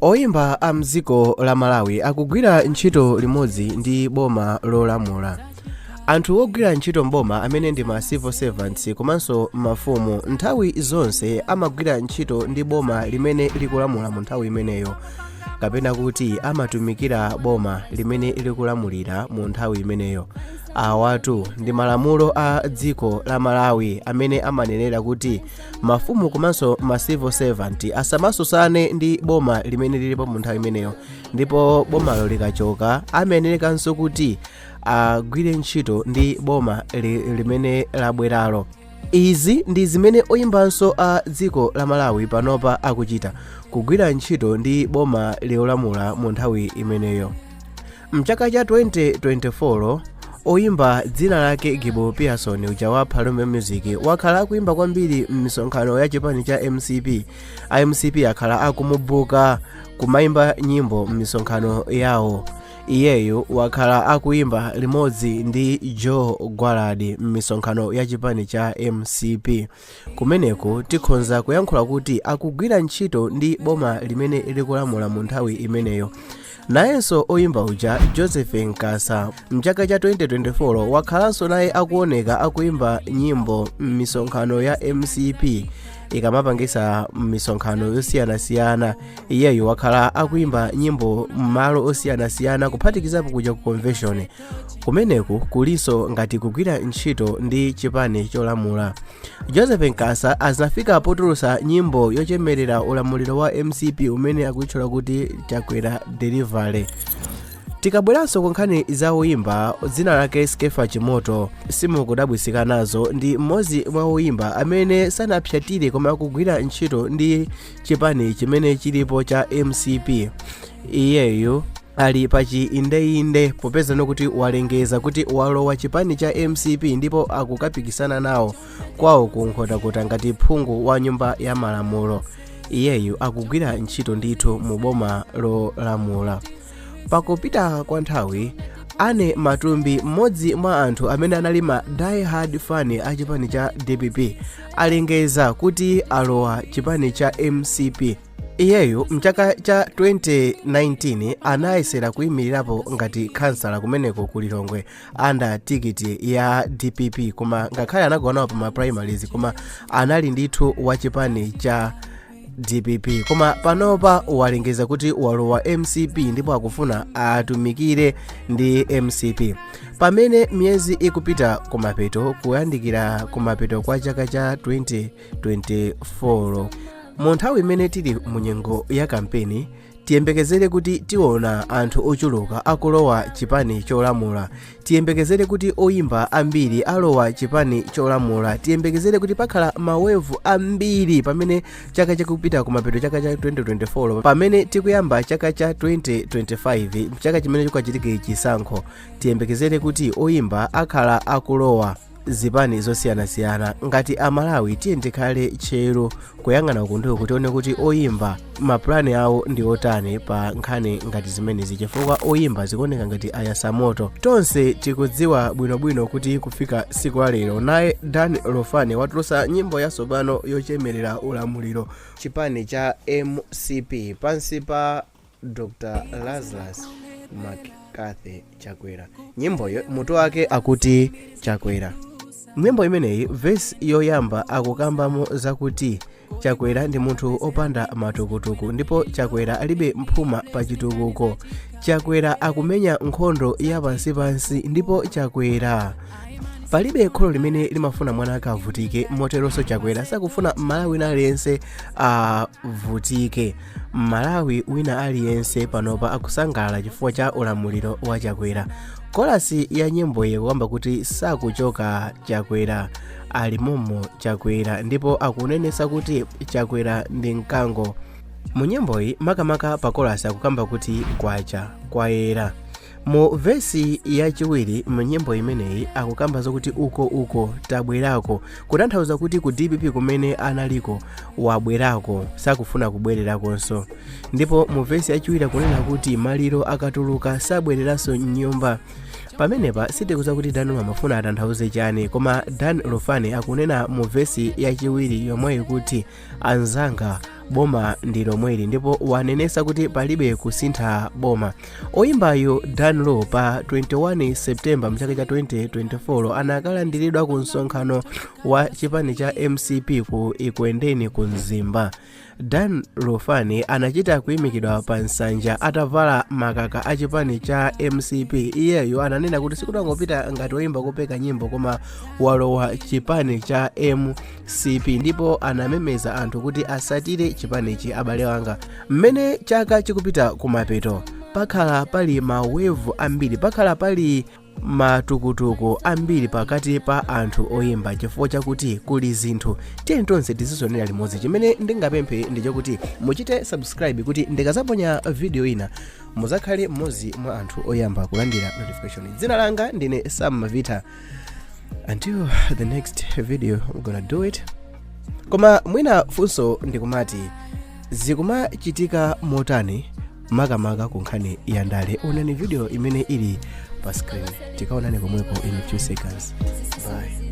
oyimba a mdziko la malawi akugwira ntchito limodzi ndi boma lolamula anthu ogwira ntchito mboma amene ndi ma civil servants komanso mafumu nthawi zonse amagwira ntchito ndi boma limene likulamula mu nthawi imeneyo kapena kuti amatumikira boma limene likulamulira mu nthawi imeneyo awatu ndi malamulo a dziko la malawi amene amanenera kuti mafumu komanso ma civil servant asamatsutsane ndi boma limene lilipo mu nthawi imeneyo ndipo bomalo likachoka amayenerekanso kuti agwire ntchito ndi boma li, limene labweralo izi ndi zimene oyimbanso a dziko la malawi panopa akuchita kugwira ntchito ndi boma lolamula mu nthawi imeneyo Mchaka cha 2024, oyimba dzina lake Gibo Pearson uja wa Phalombe Music wakhala akuimba kwambiri m'misonkhano ya chipani cha mcp a mcp akhala akumubuka kumaimba nyimbo m'misonkhano yawo iyeyu wakhala akuimba limodzi ndi joe gwaladi m'misonkhano ya chipani cha mcp Kumeneku tikhonza kuyankhula kuti akugwira ntchito ndi boma limene likulamula mu nthawi imeneyo. Nayenso oyimba uja Joseph Nkasa mchaka cha 2024 wakhalanso naye akuoneka akuimba nyimbo m'misonkhano ya mcp ikamapangisa m'misonkhano yosiyanasiyana iyeyo wakhala akuimba nyimbo m'malo osiyanasiyana kuphatikizapo kuja ku convention kumeneku kulinso ngati kugwira ntchito ndi chipani cholamula joseph nkasa azinafika potulutsa nyimbo yochemerera ulamuliro wa mcp umene akuyitchula kuti chakwera delivery tikabweranso ku nkhani za oyimba dzina lake skeffa chimoto simukudabwisika nazo ndi mmodzi mwa oyimba amene sanapsatire koma akugwira ntchito ndi chipani chimene chilipo cha mcp iyeyu ali pa chiindeinde popeza n'kuti walengeza kuti walowa chipani cha mcp ndipo akukapikisana nawo kwawo ku nkhotakota ngati phungu wa nyumba ya malamulo iyeyu akugwira ntchito ndithu mu boma lolamula pakupita kwa nthawi anne matumbi mmodzi mwa anthu amene anali ma die hard fan a chipani cha dpp alengeza kuti alowa chipani cha mcp iyeyo mchaka cha 2019 anayesera kuyimirirapo ngati khansala kumeneko ku lilongwe under tikiti ya dpp koma ngakhale anagwa nawo pa ma primaries koma anali ndithu wa chipani cha dpp koma panopa walengeza kuti walowa mcp ndipo akufuna atumikire ndi mcp pamene miyezi ikupita kumapeto kuyandikira kumapeto kwa chaka cha 2024 mu nthawi imene tili mu nyengo ya kampeni tiyembekezere kuti tiona anthu ochuluka akulowa chipani cholamula tiyembekezere kuti oyimba ambiri alowa chipani cholamula tiyembekezere kuti pakhala mamuvu ambiri pamene chaka chikupita kumapeto chaka cha 2024 pamene tikuyamba chaka cha 2025 chaka chimene chikachitike chisankho tiyembekezere kuti oyimba akhala akulowa zipani zosiyanasiyana ngati amalawi tiye tikhale tcheru kuyang'ana kundiku kuti tione kuti oyimba mapulani awo ndi otani pa nkhani ngati zimenezi chifukwa oyimba zikuoneka ngati ayatsa moto tonse tikudziwa bwinobwino kuti kufika siku la lero naye dan lufani watulutsa nyimbo yatsopano yochemerera ulamuliro chipani cha mcp pansi pa dr lazarus mccarthy chakwera nyimboyo mutu wake akuti chakwera nyimbo imeneyi vesi yoyamba akukambamo zakuti chakwera ndi munthu opanda matukutuku ndipo chakwera alibe mphuma pa chitukuko chakwera akumenya nkhondo ya pansipansi ndipo chakwera palibe kholo limene limafuna mwana akavutike moteronso chakwera sakufuna mmalawi wina aliyense avutike mmalawi wina aliyense panopa akusangalala chifukwa cha ulamuliro wa chakwera kolasi ya nyimboyi ikukamba kuti sakuchoka chakwera ali momo chakwera ndipo akunenesa kuti chakwera ndi mkango mu nyimboyi makamaka pa kolasi akukamba kuti kwacha kwayera mu vesi yachiwiri mu nyimbo imeneyi akukamba zokuti uko uko tabwerako kutanthauza kuti ku dpp kumene analiko wabwerako sakufuna kubwererakonso ndipo mu vesi yachiwiri akunena kuti maliro akatuluka sabwereranso mnyumba pamenepa sitikudziwa kuti dan amafuna atanthauze chani koma dan lufani akunena mu vesi yachiwiri yomweyi kuti anzanga boma ndi lomweli ndipo wanenesa kuti palibe kusintha boma oyimbayu dan lu pa 21 septemba mchaka cha 2024 anakalandiridwa ku msonkhano wa chipani cha mcp ku ekwendeni ku mzimba dan lufani anachita kuyimikidwa pa nsanja atavala makaka a chipani cha mcp iyeyo ananena kuti sikutangopita ngati woyimba kupeka nyimbo koma walowa chipani cha m mcp ndipo anamemeza anthu kuti asatire chipanichi abale wanga mmene chaka chikupita kumapeto pakhala pali mawevu ambiri pakhala pali matukutuku ambiri pakati pa anthu oyimba chifukwa chakuti kuli zinthu tiyeni tonse tizizonera limodzi chimene ndingapemphe ndi chakuti muchite subscribe kuti ndikazaponya video ina muzakhale mmodzi mwa anthu oyamba kulandira notification dzina langa ndine sam mavita until the next video i'm gonna do it koma mwina funso ndikumati zikumachitika motani makamaka ku nkhani ya ndale onani video imene ili pa screen tikaonane komweko in a few seconds bye